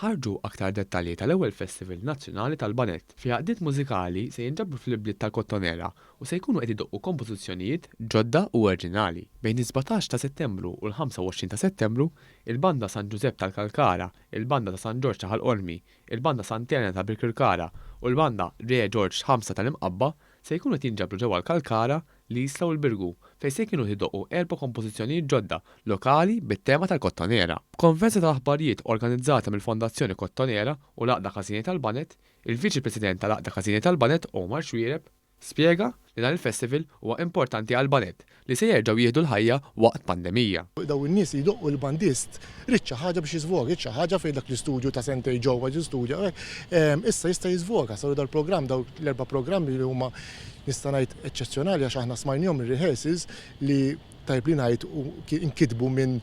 Ħarġu aktar dettalji tal-ewwel Festival Nazzjonali tal-Banett, fi għaqdiet mużikali se jinġabru fl-ibliet tal-Kottonera u se jkunu qed idoqqu kompożizzjonijiet ġodda u orġinali. Bejn is-sbatax ta' Settembru u l-25 ta' Settembru, il-Banda San Ġużepp tal-Kalkara, il-Banda ta' San Ġorġ ta' Ħal Qormi, il-Banda Sant'Elena ta' Birkirkara u l-Banda Re Ġorġ Ħamsa tal-Imqabba se jkunu qed jinġabru ġewwa l-Kalkara l-Isla u l-Birgu, fejn se kienu jdoqqu erba' kompożizzjonijiet ġodda, lokali, bit-tema tal-Kottonera. B'konferenza tal-aħbarijiet organizzata mill-Fondazzjoni Kottonera u l-Għaqda Każini tal-Baned, il-Viċi President tal-Għaqda Każini tal-Baned, Omar Xuereb, spjega li dan il-festival huwa importanti għall-baned li se jerġgħu jieħdu l-ħajja waqt pandemija. Dawn in-nies li jdoqqu l-bandist ried xi ħaġa biex jiżvoga, ried xi ħaġa fejn dak l-istudju ta' sentejn ġewwa jistudja u hekk, issa jista' jiżvoga. Saru dal-programm, dawk l-erba' programmi li huma nista' ngħid eċċezzjonali għax aħna smajnihom ir-rehearsals li tajjeb li ngħid inkitbu minn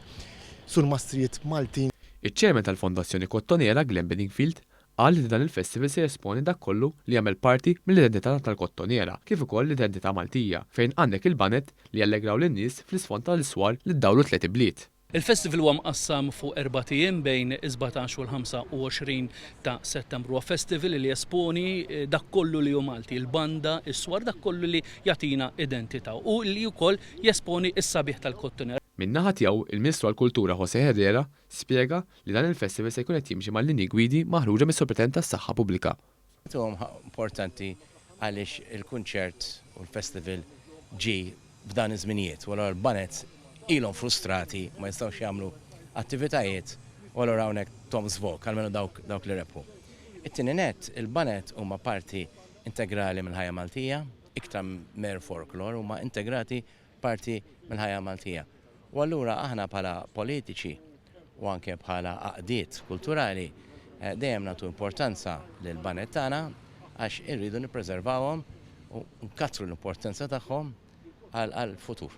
surmastrijiet Maltin. Iċ-Chairman tal-Fondazzjoni Kottonera Glenn Bedingfield qal li dan il-festival se jesponi dak kollu li jagħmel parti mill-identità tal-Kottonera kif ukoll l-identità Maltija fejn għandek il-baned li jallegraw lin-nies fl-isfond tal-iswar li ddawru tliet ibliet. Il-festival huwa mqassam fuq erbat ijiem bejn is-sbatax u l-ħamsa u għoxrin ta' Settembru. Huwa festival li jesponi dak kollu li hu Malti, il-banda, is-swar, dak kollu li jagħtina identità u li wkoll jesponi s-sabiħ tal-Kottonera. Min-naħa tiegħu, il-Ministru għall-Kultura José Herrera spjega li dan il-festival se jkun qed jimxi mal-linji gwidi maħruġa mis-Sovratenent tas-Saħħa Pubblika. Huwa importanti għaliex il-kunċert u l-festival ġie f'dan iż-żminijiet u allura l-bands ilhom frustrati ma jistgħux jagħmlu attivitajiet u allura hawnhekk Tom's Vogue, almenu dawk li rebħu. It-tieni nett, il-bands huma parti integrali mill-ħajja Maltija, iktar minn mer folklor, huma integrati parti mill-ħajja Maltija. U allura aħna bħala politiċi u anke bħala għaqdiet kulturali dejjem nagħtu importanza lill-baned tagħna għax irridu nippreservawhom u nkattru l-importanza tagħhom għall-futur.